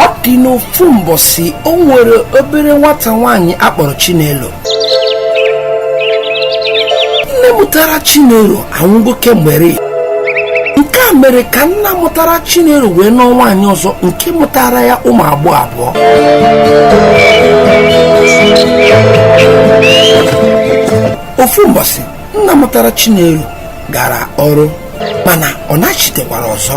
ọ dị n'ofu mbọsị o nwere obere nwata nwaanyị a kpọrọ chinelo nne mụtara chinelo anwụgo kemgbe nke a mere ka nna mụtara chinelo wee nụọ nwaanyị ọzọ nke mụtaara ya ụmụ agbọghọ abụọ ofu mbọsị nna mụtara Chinelo gara ọrụ mana ọ nachitekwarọ ọzọ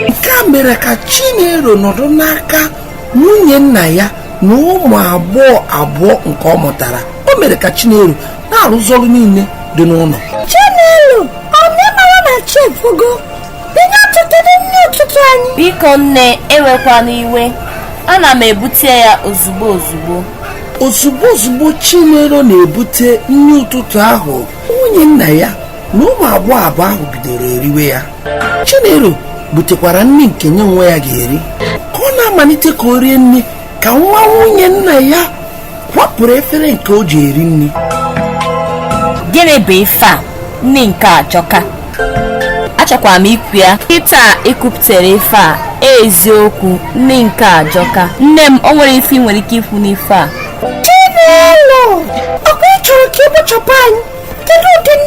nke a mere ka Chinelo nọdụ n'aka nwunye nna ya na ụmụ agbọghọ abụọ nke ọ mụtara o mere ka Chinelo na-arụzi ọrụ niile dị n'ụnọ Chinelo ọ na ị marọ na chi efogo biko nne ewekwana iwe ana m ebute ya ozugbo ozugbo ozugbo ozugbo chinelo na-ebute nni ụtụtụ ahụ nwunye nna ya na ụmụ agbọghọ abụọ ahụ bidoro eriwe ya chinelo butekwara nni nke nya onwe ya ga-eri ka ọ na-amalite ka o rie nni ka nwa nwunye nna ya kwapụrụ efere nke o ji eri nni gịnị bụ ife a nni nke a ajọka achọkwara m ikwu ya kịta i kwupụtara ife a eziokwu nni nke a ajọka nne m o nwere ife ị nwere ike ikwu n'ife a Chinelo, ọkwa ị chọrọ ka ị kpochapụ anyị? Kedu ụdị nni